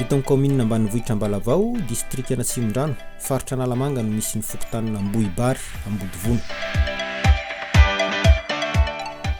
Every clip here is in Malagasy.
Eto amin'ny kaominina ambanivohitra Ambalavao, distrikan'Atsimondrano, faritra Analamanga no misy ny fokontanina Ambohibary, Ambodivono.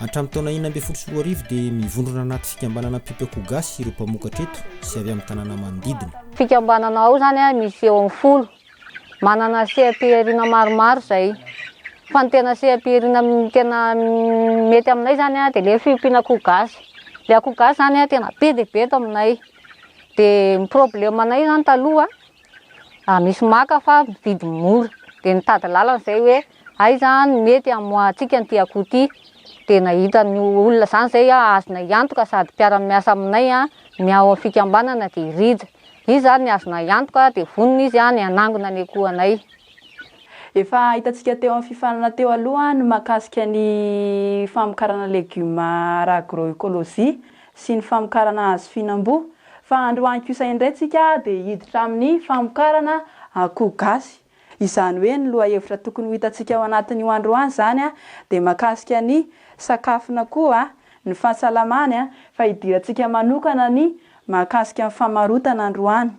Hatramin'ny taona enina ambin'ny folo sy roa arivo dia mivondrona anaty fikambanana Mpipeoko Gasy ireo mpamokatra eto sy avy amin'ny tanàna manodidina. Fikambanana ao izany misy eo amin'ny folo Manana seha-pihariana maromaro izay fa ny tena seha-pihariana tena mety aminay izany dia ilay fiompiana akoho gasy. Ilay akoho gasy izany tena be dia be eto aminay dia ny problème anay izany taloha misy maka fa mividy mora dia nitady lalana izay hoe... Aiza no mety hamoahantsika an'ity akoho ity? Dia nahitan'ny olona izany izay aho azonay antoka sady mpiara-miasa aminay ny ao amin'ny fikambanana dia i Rija. Izy ary ny azonay antoka dia vonona izy ny hanangona ny akohonay. Efa hitantsika teo amin'ny fifaninana teo aloha ny mahakasika ny famokarana legioma ara-agroekolojia sy ny famokarana azy fihinam-boa fa androany kosa indray tsika dia hiditra amin'ny famokarana akoho gasy. Izany hoe ny lohahevitra tokony ho hitantsika ao anatin'io androany izany dia mahakasika ny sakafo na koa ny fahasalamany fa hidirantsika manokana ny mahakasika ny famarotana androany.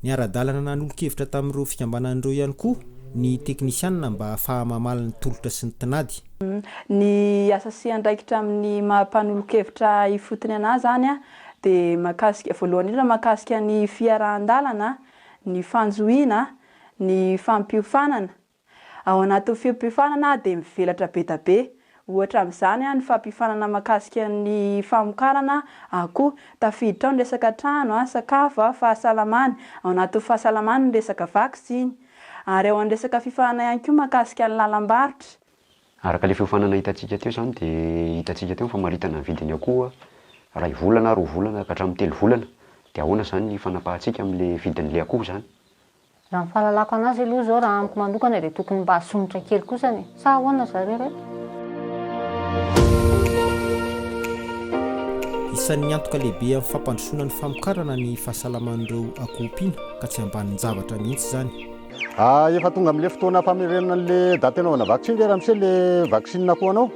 Niara-dalana nanolo-kevitra tamin'ireo fikambanana ireo ihany koa ny teknisianina mba hahafaha-mamaly ny tolotra sy ny tinady. Ny asa sy andraikitra amin'ny maha mpanolo-kevitra ifotony anà izany dia mahakasika, voalohany indrindra mahakasika ny fiarahan-dalana ny fanjohiana, ny fampiofanana. Ao anatin'ny fiompiofanana dia mivelatra be da be. Ohatra amin'izany ny fampiofanana mahakasika ny famokarana akoho. Tafiditra ao ny resaka trano, sakafo, fahasalamana. Ao anatin'ny fahasalamana ny resaka vaksiny. Ary ao amin'ny resaka fiofanana ihany koa mahakasika ny lalam-barotra. Araka ilay fiofanana hitantsika teo izany dia hitantsika teo ny famaritana ny vidin'ny akoho iray volana, roa volana ka hatramin'ny telo volana dia ahoana izany ny fanapahantsika amin'ilay vidin'ilay akoho izany? Raha ny fahalalako anazy aloha izao raha amiko manokana dia tokony mba asonitra kely kosa ny sa ahoana ry zareo re? Isan'ny antoka lehibe amin'ny fampandrosoana ny famokarana ny fahasalaman'ireo akoho mpiana ka tsy ambanin-javatra mihitsy izany. Ah efa tonga amle fotoana famerenana anle date anaovana vaccine ve ramose le vaccine akoho anao?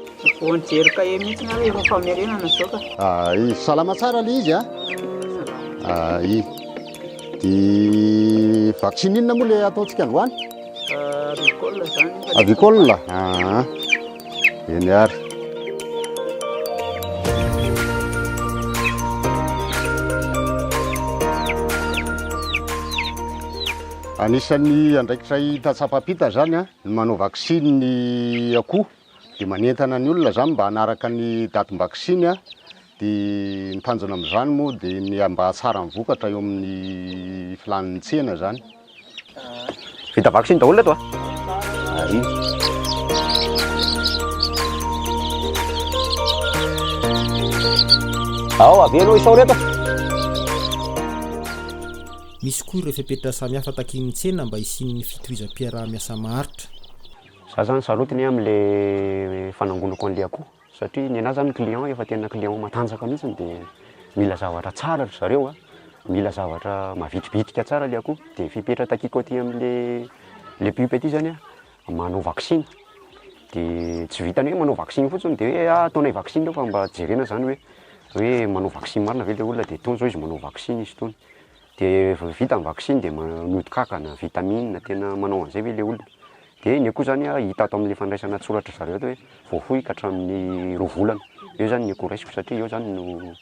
Vao nijery kahie mihitsy ny aho efa famerenana zao ka. Ah i salama tsara le izy a? Ah? Ah i de vaccine inona moa le ataontsika androany? Ah, avicole zany. Avicole? Ah. Eny ary. Anisan'ny andraikitra hita tsapa-pita zany ny manao vaksiny ny akoho dia manentana ny olona zany mba hanaraka ny datim-baksiny dia ny tanjona amin'izany moa dia ny mba hahatsara ny vokatra eo amin'ny filàn'ny tsena zany. Vita vaksiny daholo ireto a. Ao, avela isao ireto. Misy koa ireo fepetra samihafa takian'ny tsena mba hisian'ny fitohizam-piaraha-miasa maharitra. Za zany sarotiny hoe amle fanangonako anle akoho satria nenah zany client efa tena client matanjaka mihitsiny de mila zavatra tsara ry zareo a, mila zavatra mavitribitrika tsara le akoho de fepetra takiako aty amle le pup aty zany a manao vaksiny dia tsy vitan'ny hoe manao vaksiny fotsiny dia hoe ah ataonay vaksiny io fa mba jerena zany hoe hoe manao vaksiny marina ve le olona dia ataony zao izy manao vaksiny izy itony dia vao vita ny vaksiny dia mody kankana, vitamine, tena manao an'izay ve le olona dia iny koa zany an hita ato amin'ny fandraisana an-tsoratr'zareo ato hoe voafoy ka hatramin'ny roa volana, eo zany ny eco raisiko satria eo zany no.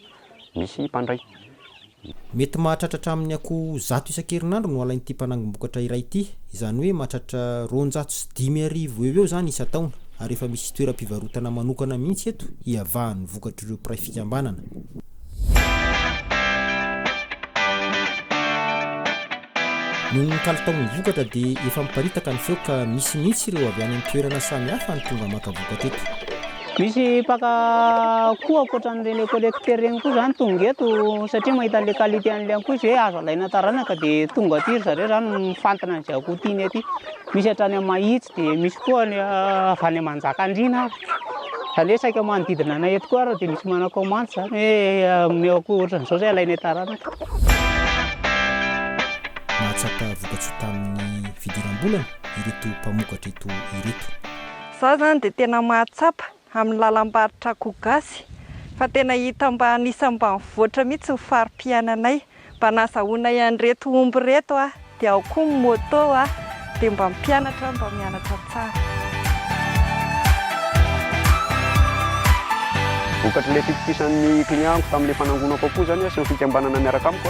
misy mpandray. Mety mahatratra hatramin'ny akoho zato isan-kerinandro no alain'ity mpanangom-bokatra iray ity. Izany hoe mahatratra roanjato sy dimy arivo eo eo izany isan-taona, ary efa misy toeram-pivarotana manokana mihitsy eto hiavahan'ny vokatr'ireo mpiray fikambanana. Noho ny kalitaon'ny vokatra dia efa miparitaka ny feo ka misy mihitsy ireo avy any an-toerana samihafa no tonga maka vokatra eto. Misy mpaka akoho ankoatra an'ireny ecolecteur ireny koa izany tonga eto satria mahita an'ilay qualité an'ilay akoho izy hoe azo alaina taranaka dia tonga aty ry zareo izany mifantina an'izay akoho tiany aty. Misy hatrany amin'i Mahitsy dia misy koa any ah, avy any Manjakandriana ary. Izany hoe saika manodidina anay eto koa ary dia misy manao commande izany hoe ah, omeo akoho ohatran'izao izay alainay taranaka. Nahatsapa vokatsoa tamin'ny fidiram-bolany ireto mpamokatra eto ireto. Izaho izany dia tena mahatsapa amin'ny lalam-barotra akoho gasy fa tena hita mba anisan'ny ambanivoatra mihitsy ny fari-piainanay. Mba nazahoanay an'ireto omby ireto aho dia ao koa ny moto aho dia mba mpianatra aho mba mianatra tsara. Vokatr'ilay fitokisan'ny client-ko tamin'ilay fanangonako akoho izany sy ny fikambanana miaraka amiko.